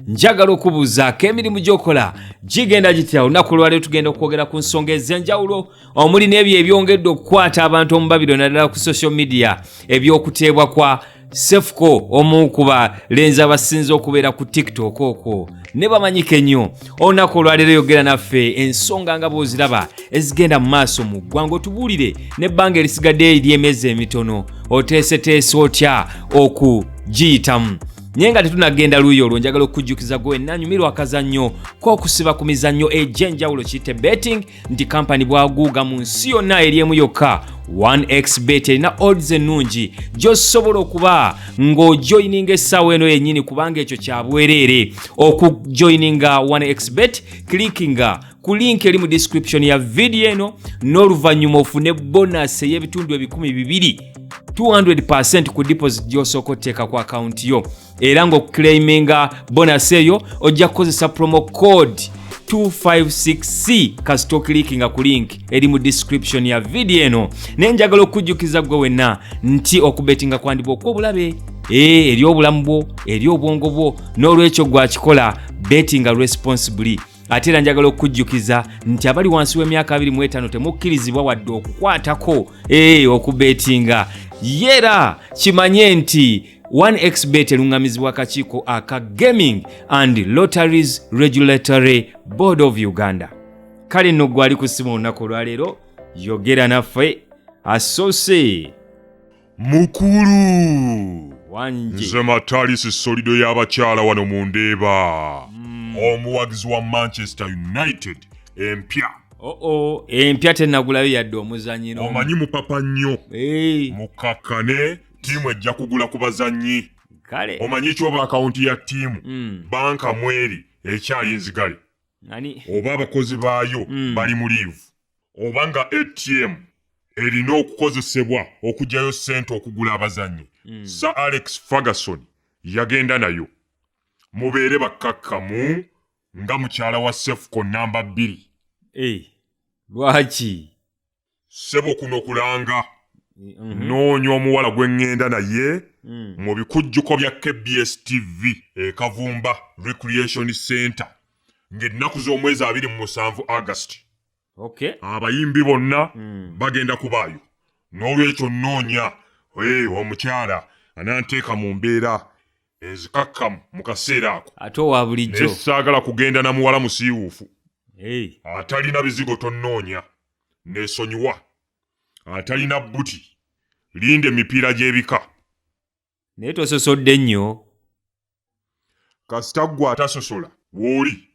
njagala okubuuzaako emirimu gyokola gigenda gitya olunaku olwaliro tugenda okwogera ku nsonga ez'enjawulo omuli n'ebyo ebyongedde okukwata abantu omubabiro naddala ku social media ebyokuteebwa kwa sefuko omu ku balenzi abasinze okubeera ku tiktok okwo ne bamanyika ennyo olunaku olwaleero yogera naffe ensonga nga bwoziraba ezigenda mu maaso mu ggwanga otubuulire n'ebbanga erisigadde ery'emyezi emitono oteeseteese otya okugiyitamu naye nga tetunagenda luuyi olwo njagala okukujjukiza gwe wenna anyumirwa akazannyo k'okusiba ku mizannyo egy'enjawulo kiyite betting nti kampani bwaguuga mu nsi yonna eri emu yokka 1x bet erina odds ennungi gy'osobola okuba ng'ojoyininga essaawa eno yennyini kubanga ekyo kya bwereere okujoyininga 1x bet clickinga ku link eri mu description ya vidiyo eno n'oluvannyuma ofune bonasi ey'ebitundu ebikumi bibiri 200 ku deposit gy'osooka otteeka ku akawunti yo era ng'okuclaiminga bonasi eyo ojja kukozesa promo code 256c kasita okilikinga ku link eri mu description ya vidiyo eno naye njagala okujjukiza gwe wenna nti okubetinga kwandibwa okw'obulabe ee eh, eri obulamu bwo eri obwongo bwo n'olwekyo gwakikola betinga responsibly ate era njagala okukujjukiza nti abali wansi w'emyaka 25 temukkirizibwa wadde okukwatako ee eh, okubeetinga yera kimanye nti 1xbet eluŋŋamizibwa akakiiko aka gaming and lotteries regulatory board of uganda kale nno gwali kusima olunaku olwaleero yogera naffe asoose mukulu wangi nze matalisi solido y'abakyala wano mu ndeeba mm. omuwagizi wa manchester united empya oo oh, oh, empya tenagulayo yadde omuzanyiro omanyi mupapa nnyo hey. mukakkane tiimu ejja kugula ku bazanyi kale omanyi kyoba akawunti ya tiimu mm. banka mweri ekyali nzigale oba abakozi baayo mm. bali mu liivu oba nga atm erina okukozesebwa okugyayo ssente okugula abazannyi mm. sir alex ferguson yagenda nayo mubeere bakkakkamu nga mukyala wa sefuko namba bbiri hey, eh, lwaki sebo kuno kulanga mm -hmm. noonya omuwala gwe ŋŋenda naye mm. mu bikujjuko bya kbs tv ekavumba recreation center ng'ennaku z'omwezi abiri mu musanvu August okay. abayimbi bonna mm. bagenda kubaayo n'olwekyo nnoonya hey, omukyala ananteeka mu mbeera ezikakkamu mu kaseera ako ate owa bulijjo naye saagala kugenda na muwala musiiwuufu hey. atalina bizigo tonnoonya neesonyiwa atalina bbuti linda emipiira gy'ebika naye tososodde nnyo kasita ggwe atasosola wooli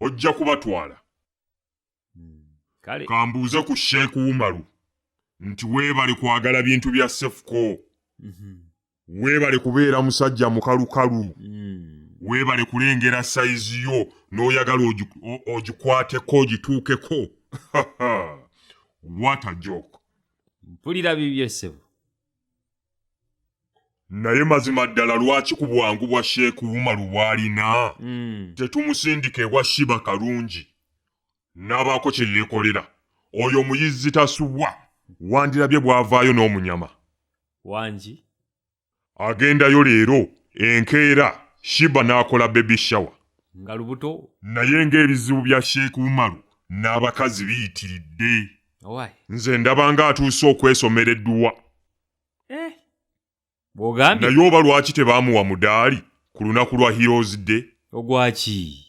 ojja kubatwala kale kambuuze ku sheek umaru nti weebale kwagala bintu bya sefuko Mhm. weebale kubeera musajja mukalukalu Mm. weebale kulengera sayizi yo n'oyagala ogi- o- ogikwateko ogituukeko what a joke mpulira bibye ssebo naye mazima ddala lwaki ku bwangu bwa sheeku umaru bw'alina hmm. tetumusindika ewa shiba kalungi n'abaako kye yeekolera oyo omuyizzi tasubwa wandirabye bw'avaayo n'omunyama wangi agendayo leero enkeera shiba n'akola bebi shawa nga lubuto naye ng'ebizibu bya sheeku umaru n'abakazi biyitiridde nze ndaba nga atuuse okwesomera edduwa eh, naye oba lwaki tebaamuwa mudaali ku lunaku lwa heroes day ogwaki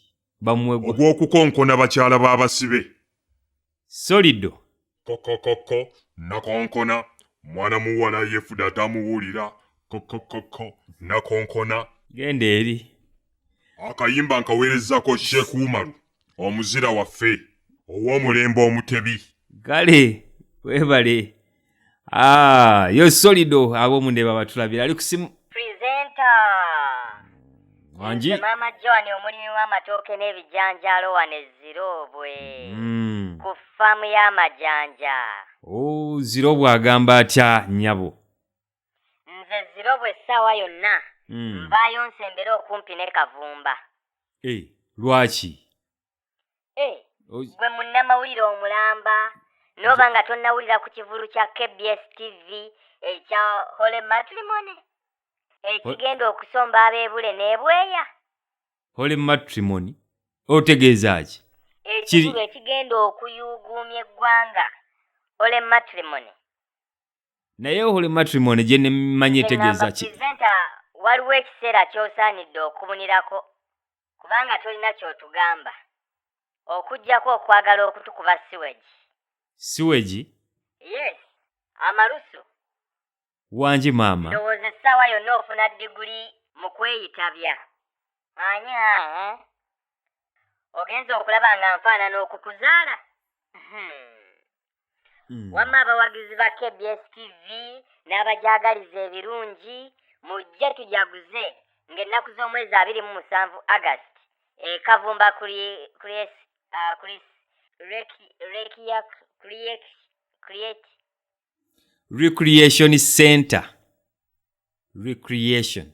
ogw'okukonkona bakyala b'abasibe solido kokokoko nakonkona mwana muwala yefuda atamuwulira kokokoko nakonkona genda eri akayimba nkaweerezako sheku umaru omuzira waffe ow'omulembe omutebi kale webale ah, yo solido ab'omundeba batulabira ali kusimu purezenta wangi maama joan omulimi w'amatooke n'ebijanjaalo wano eziroobwe mm. ku faamu y'amajanja o oh, ziroobwe agamba atya nyabo nze zirobo essaawa yonna mm. nvaayo nsembere okumpi ne kavumba hey, eh, lwaki hey, eh, gwe munnamawulire omulamba noba nga tonnawulira ku kivulu kya kbs tv ekya hole matrimony ekigenda okusomba abebule nebweya hole matrimony otegeeza ki ekivulu ekigenda okuyuuguumya eggwanga hole matrimony naye holy matrimony gye nemanyi etegeeza ki waliwo ekiseera ky'osaanidde okubunirako kubanga tolina ky'otugamba okugyako okwagala okutukuba siwegi siwegi yes amalusu wangi maama ndowooza essaawa yonna ofuna diguli mu kweyitabya anya eh? ogenza okulaba nga nfaanana okukuzaala hmm. hmm. wamma abawagizi ba kbs tv n'abagyagaliza ebirungi mujje tujaguze ng'ennaku z'omwezi abiri mu musanvu agast ekavumba recreation center recreation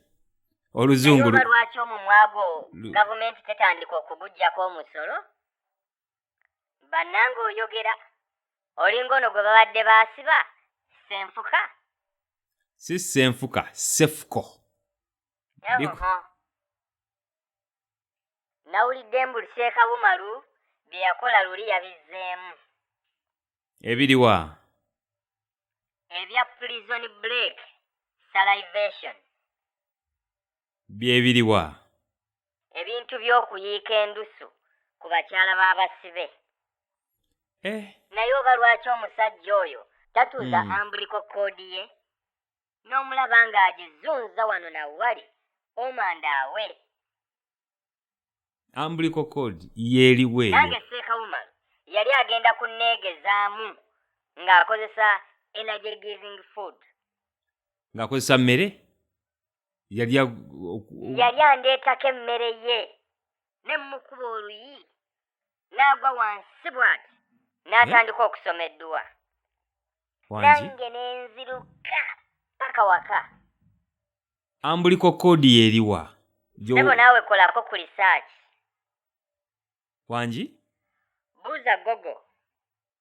oluzungu lwaki omumwago gavumenti tetandika okugujjako omusolo bannanga oyogera olinga ono gwe babadde baasiba senfuka si senfuka sefuko nawulidde mbuli seekabumalu bye yakola luli yabizzeemu ebiriwa ebya prison break salivation bye biriwa? Ebintu by'okuyiika endusu ku bakyala b'abasibe. Eh. Naye oba lwaki omusajja oyo tatuuza hmm. ambuliko kkoodi ye n'omulaba ng'agizunza wano na wali omanda awe. Ambuliko kkoodi yeeriwa eyo? Nange Sseekawuma yali agenda kunneegezaamu ng'akozesa energy giving food. Ng'akozesa mmere? yali yali andeetako emmere ye ne mmukuba oluyi n'agwa wansi bwati n'atandika okusoma edduwa nange ne nziruka paka waka ambuliko koodi yeriwa ebo naawe kolako ku lisaaki wangi buuza gogo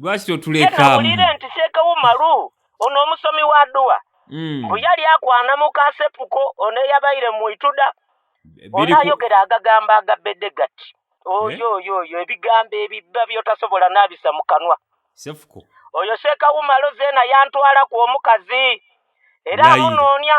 lwaki totulekamawulire nti seekawo malu ono omusomi wa dduwa hmm. mbu yali akwana mu kasepuko ono eyabaire mu ituda ono ayogera agagambo agabedde gati oyo eh? oyo oyo ebigambo ebibba byotasobola nabisa mu kanwa sefuko oyo seekawo malu zeena yantwalaku omukazi era amunoonya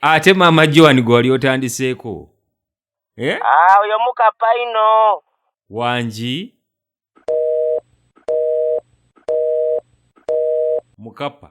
ate maama joan gwe wali otandiseeko eh? ah, oyo mukapaino wangi mukapa